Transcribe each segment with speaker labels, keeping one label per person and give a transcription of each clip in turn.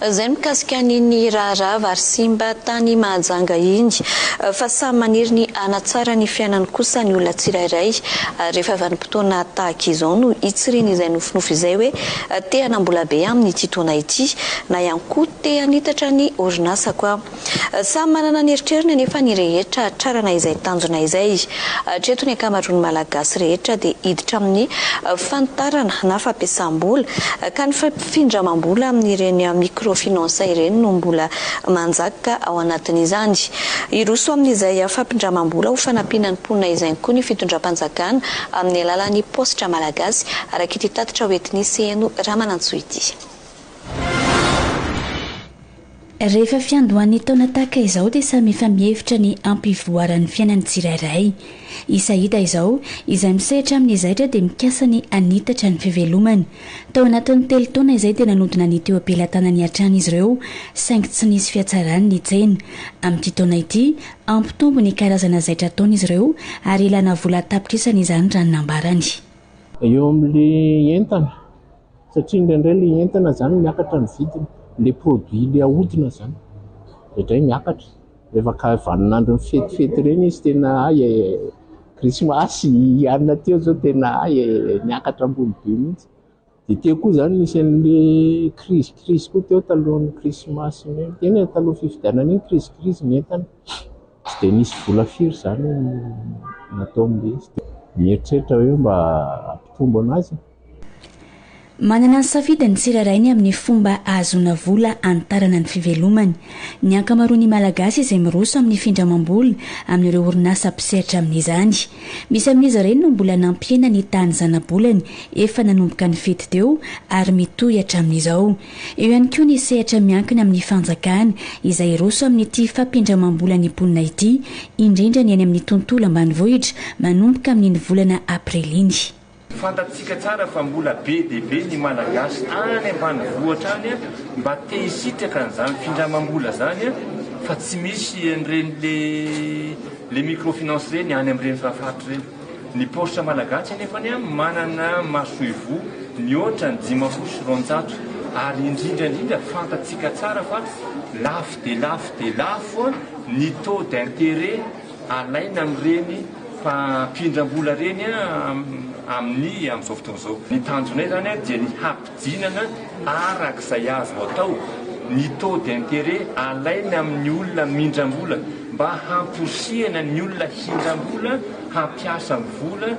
Speaker 1: Izay mikasika an'iny raharaha vary simba tany Mahajanga iny fa samy maniry ny hanatsara ny fiainany kosa ny olona tsirairay ary rehefa vanim-potoana tahaka izao no hitsirian'izay nofinofy izay hoe te-hanam-bola be amin'ity taona ity na ihany koa te-hanitatra ny orinasako aho. Samy manana ny eritreriny anefa ny rehetra hahatrarana izay tanjona izay. Hatreto ny ankamaroan'ny Malagasy rehetra dia hiditra amin'ny fanitarana na fampiasam-bola ka ny fifindramam-bola amin'ireny microfinance ireny no mbola manjaka ao anatin'izany. Hiroso amin'izay fampindramam-bola ho fanampiana ny mponina izain koa ny fitondram-panjakana amin'ny alalan'ny paositra malagasy arak'ity tatitra hoentin'i Seheno Ramanantsoa ity.
Speaker 2: Rehefa fiandohan'ny taona tahaka izao dia samy efa mihevitra ny hampivoaran'ny fiainany ny tsirairay. I Sahida izao, izay misehatra amin'ny zaitra dia mikasa ny hanitatra ny fivelomany. Tao anatin'ny telo taona izay dia nanodina ny teo am-pelatanany hatrany izy ireo saingy tsy nisy fihatsarany ny tsena. Amin'ity taona ity, hampitombo ny karazana zaitra ataony izy ireo ary hilana vola an-tapitrisany izany raha ny nambarany. Eo
Speaker 3: amin'ny entana satria indraindray ilay entana izany miakatra ny vidiny, ilay produit ilay ahodina izany indraindray miakatra, rehefa ka vanin'andro mifetifety ireny izy tena hay e, krismasy, alina teo izao tena hay e, niakatra ambony be mihintsy, dia teo koa izany nisy an'ilay krizikrizy koa teo talohan'ny krismasy, teny e, talohan'ny fifidianana iny krizikrizy ny entana. Tsy dia nisy vola firy izany natao amin'ilay izy dia mieritreritra hoe mba hampitombo an'azy aho.
Speaker 2: Manana ny safidiny ny tsirairay ny amin'ny fomba ahazoana vola hanitarana ny fivelomany. Ny ankamaroan'ny Malagasy izay miroso amin'ny findramam-bola amin'ireo orinasa mpisehatra amin'izany. Misy amin'izy ireny no mbola nampihena ny tahan'ny zana-bolany efa nanomboka nifidy teo ary mitohy hatramin'izao. Eo ihany koa ny sehatra miankina amin'ny fanjakana izay hiroso amin'ity fampindramam-bolan'ny mponina ity, indrindra ny any amin'ny tontolo ambanivohitra, manomboka amin'iny volana aprily iny. Fantatsika
Speaker 4: tsara fa mbola be dia be ny Malagasy any ambanivohitra any mba te hisitraka an'izany findramam-bola izany fa tsy misy an'ireny le microfinance ireny any amin'ireny faritra ireny. Ny paositra malagasy anefa anie manana masoivoho mihoatra ny dimampolo sy roanjato ary indrindra indrindra fantatsika tsara fa lafo dia lafo dia lafo ny taux d'intérêt alaina amin'ireny mpampindram-bola ireny amin'ny amin'izao fotoana izao. Ny tanjonay izany dia ny Vinana araka izay azo atao ny taux d'intérêt alaina amin'ny olona mindram-bola mba hamporisihana ny olona hindram-bola hampiasa ny vola.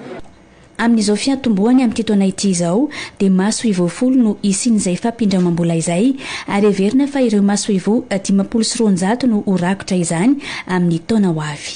Speaker 4: Amin'izao
Speaker 2: fiantombohany amin'ity taona ity izao dia masoivoho folo no hisian'izay fampindramam-bola izay ary heverina fa ireo masoivoho dimampolo sy roanjato no ho rakotra izany amin'ny taona ho avy.